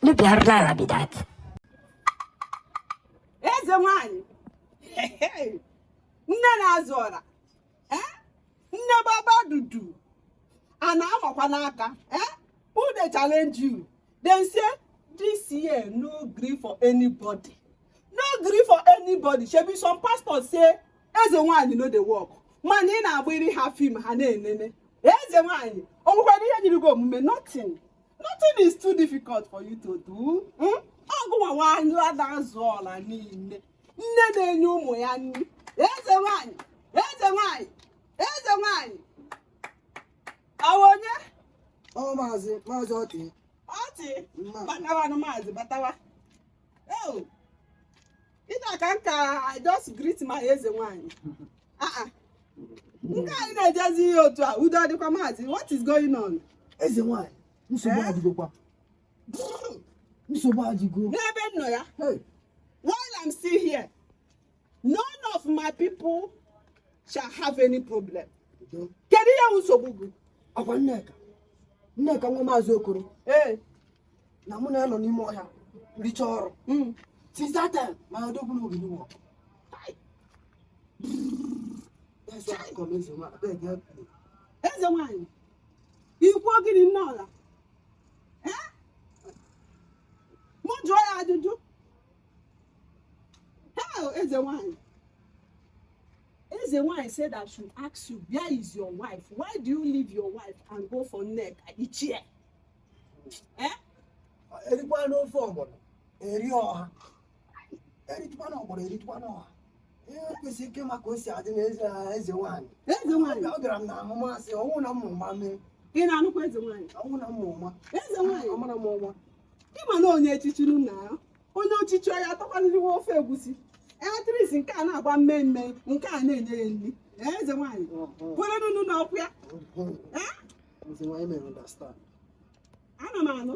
Nu pierdolę mi dat. Eze nwanyị! Nne na-azụ ọra! ee nne baba dudu a na-amakwa n'aka ee who dey challenge you dem say this year no gree for anybody no gree for anybody shebi some pastors say eze nwanyị no dey work mana ị na-agbara ha fim ha na-enene eze nwanyị o nwekwara ihe nyiri gị omume nothing nothing is too difficult for you to do agụ nwaanyị na-azụ ọra niile nne na-enye ụmụ ya nri eze nwanyị eze nwanyị eze nwanyị ọ wụ onye ọ maazị maazị ọtị ọtị batawanụ maazị batawa eo ị na-aka nka i just greet my eze nwanyị ah, ah. nke a ị na-ejezi ije otu a udo adịkwa maazị what is going on eze nwanyị nsogbu eh? adịgokwa nsogbu adịgo n'ebe m nọ ya while i'm still here none of my people shall have any problem kedu ihe nsogbu gị ọ kwa nneka nneka nwa maazị okoro ee na mụ na ya nọ n'ime ọhịa richa ọrụ hmm. since that time my odogwu na ogidi wọ eze nwanyị i kwu gịnị nne ọra mụ jụọ ya ajụjụ hey eze nwanyị eze nwanyị said I should ask you where is your wife why do you leave your wife and go for nneka ichie eh? erikwanụ ofe ọgbọnọ erie ọha eritụkwanụ ọgbọnọ eritụkwanụ ọha ihe kwesịrị ike maka o si adị n'eze eze nwaanyị eze nwaanyị ọ gara m na ahụ masị ọnwụ na mmụ ma mee ị na-anụkwa eze nwaanyị ọnwụ na mmụ ma eze nwaanyị ọ mara m ọnwa ị ma na onye echichiri na ya onye ochichi ya atọkwaniriwe ofe egwusi eletris nke a na-agba mmemme nke a na-enye ya nri Ee, eze nwaanyị kwere nunu na ọkụ ya eze nwaanyị mere understand ana m anụ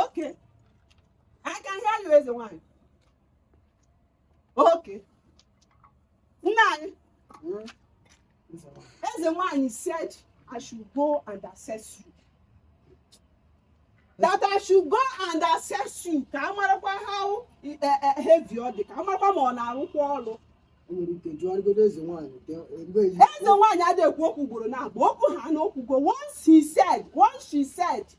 oke aka ihe alụ eze nwanyị oke nna anyị hmm. eze nwanyị said i should go and assess you that I should go and assess you ka a marakwa how e, e, e, heavy ọ dị ka a marakwa ma ọ na-arụkwa ọrụ eze nwaanyị adịghị ekwu okwu ugboro naabọ okwu ha na o kwugo once he said once she said